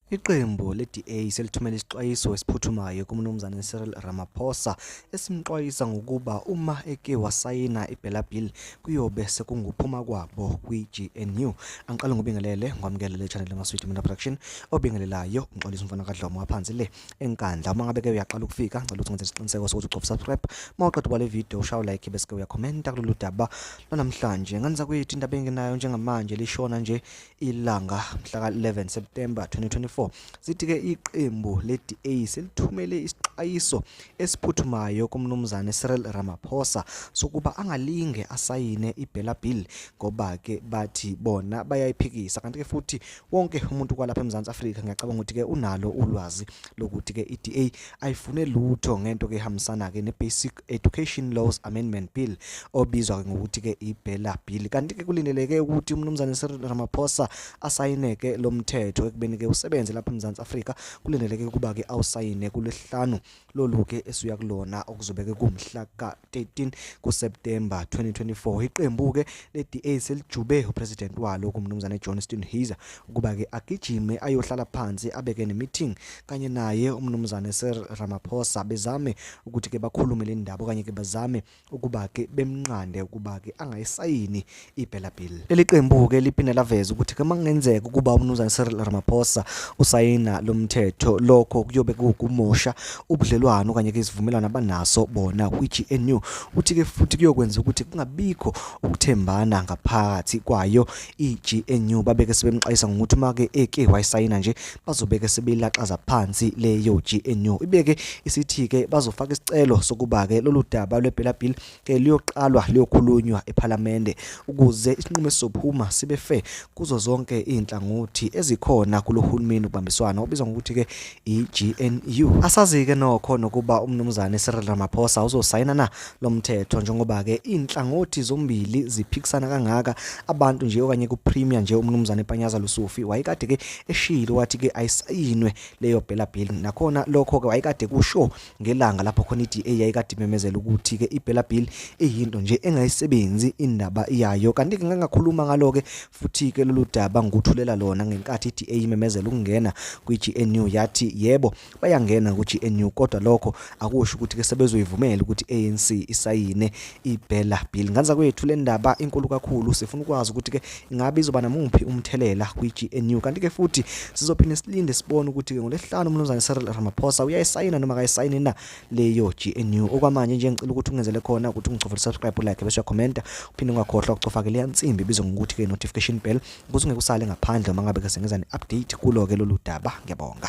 Iqembu le-DA selithumele isixwayiso esiphuthumayo kuMnumzane Cyril Ramaphosa esimxwayisa ngokuba uma eke wasayina i-Bella Bill kuyobe sekunguphuma kwabo kwi-GNU. Angiqale ngobingelele ngwamukele le channel Maswidi Mina Production obingelelayo ngixolisa umfana kaDlomo waphansi le enkandla. Uma ngabe ke uyaqala ukufika ngicela ukuthi ngenze isiqiniseko sokuthi ugcoba subscribe. Uma uqeda ubale video ushawa like bese ke uyakhomenta kulolu daba lwanamhlanje. Ngani zakwethu indaba enginayo njengamanje lishona nje ilanga mhla ka-11 September 2024 sithi-ke iqembu le-DA selithumele isixwayiso esiphuthumayo kumnumzane Cyril Ramaphosa sokuba angalinge asayine i-Bella Bill ngoba-ke bathi bona bayayiphikisa kanti-ke futhi wonke umuntu kwalapha eMzantsi Afrika ngiyacabanga ukuthi-ke unalo ulwazi lokuthi-ke i-DA ayifune lutho ngento-ke ehambisana-ke ne-basic Education Laws Amendment Bill obizwa ngokuthi ke iBella Bill kanti ke kulindeleke ukuthi umnumzane Cyril Ramaphosa asayine ke lo mthetho ekubeni ke usebenze lapha eMzansi Afrika kulindeleke ukuba ke awusayine kulesihlanu lolu ke esuya kulona okuzobeke kumhla ka-13 kuSeptemba 2024 iqembu ke le-DA selijube upresident walo kumnumzane Johnston Heiser ukuba ke agijime ayohlala phansi abeke nemeeting kanye naye umnumzane Sir Ramaphosa bezame ukuthi ke bakhulume le ndaba okanye ke bazame ukuba ke bemnqande ukuba ke angayisayini ibhela bill leli qembu ke liphinde laveza ukuthi ke mangenzeka ukuba umnumzane Sir Ramaphosa usayina lo mthetho lokho kuyobe kukumosha ubudlelwano kanye ke isivumelwano abanaso bona kwiGNU uthi ke futhi kuyokwenza ukuthi kungabikho ukuthembana ngaphakathi kwayo iGNU babeke sebemxwayisa ngokuthi uma ke eke wayisayina nje bazobeke sebelaxaza phansi leyo GNU ibeke isithi ke bazofaka isicelo sokuba ke lolu daba lwebhela bill ke liyoqalwa liyokhulunywa ePhalamende ukuze isinqumo esizophuma sibe fair kuzo zonke izinhlangothi ezikhona kulohulumeni ubambiswana obizwa ngokuthi ke iGNU. Asazike nokho nokuba umnumzane Cyril Ramaphosa uzosayina na lo mthetho njengoba ke inhlangothi zombili ziphikisana kangaka abantu nje okanye ku premier nje umnumzane Panyaza Lusufi wayekade ke eshilo wathi ke ayisayinwe leyo bela bill nakhona lokho ke wayekade kusho ngelanga lapho khona iDA yayikade imemezela ukuthi ke iBella Bill iyinto nje engayisebenzi indaba yayo kanti ke ngangakhuluma ngalo ke futhi ke lolu daba ngikuthulela lona ngenkathi iDA imemezela ukungena kwiGNU yathi yebo bayangena kuGNU kodwa lokho akusho ukuthi ke sebezoyivumela ukuthi ANC isayine ibhela bill nganza kwethu le ndaba inkulu kakhulu sifuna ukwazi ukuthi ke ingabe izoba namuphi umthelela kwi-GNU kanti ke futhi sizophinde silinde sibone ukuthi ke ngolesihlanu umnumzane Cyril Ramaphosa uyayisayina noma akayisayini na leyo GNU okwamanje nje ngicela ukuthi ungenzele khona ukuthi ungicofele subscribe like bese uyakhomenta uphinde ungakhohlwa ukucofa ke leya nsimbi ibizwa ngokuthi ke notification bell ukuze ungekusale ngaphandle uma ngabe ke sengeza ne-update kulo ke lolu daba ngiyabonga